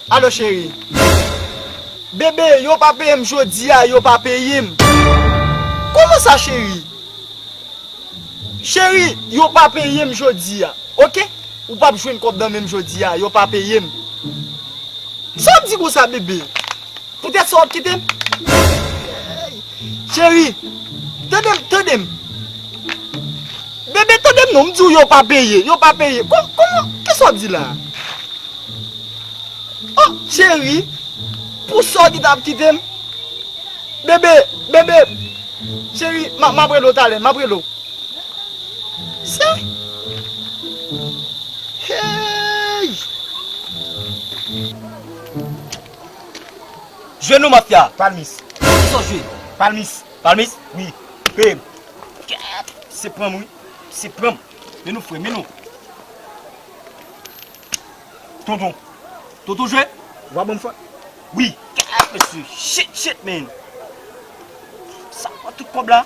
Alo cheri. Bebe yo pa peyem jodia yo pa peyem. Kouman sa cheri. Cheri yo pa peyem jodia ok ou pap jwenn kob nan menm jodia yo pa peyem. Sa wap di konsa bebe. Poutèt sa wap kitem? Eyy Cheri Tandem tandem Bebe tandem non mdiw yo pa peye yo pa peye Kon koman kisa wap di la Oh Cheri Pou sa ki tap kitem Bebe bebe Cheri map rele w talè map rele w Sa Eyy. Jwe nou mafya. Palmis. Kisa w jwe? Palmis. Palmis? Wi. Peye m. Kèèt. Se pran m wi. Se pran m. Men nou fre. Men nou. Tonton. Tonton jwe? Ou pa ban m fòt? Wi. Kèèt mesye. Shit shit men. Sa pran tout kòb la.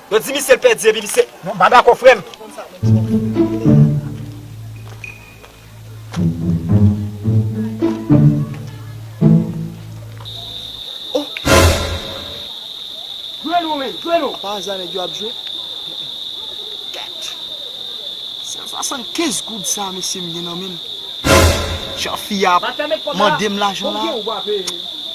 Yo di misye pèdi epi misye Mwen pa dakò frèm. Jwe nou men, jwe nou. Pa aza nèg yo ap jwe. Kèt. San swasann kenz goud sa mesye m gen nan menm. Jan fi a ap mandem lajan la.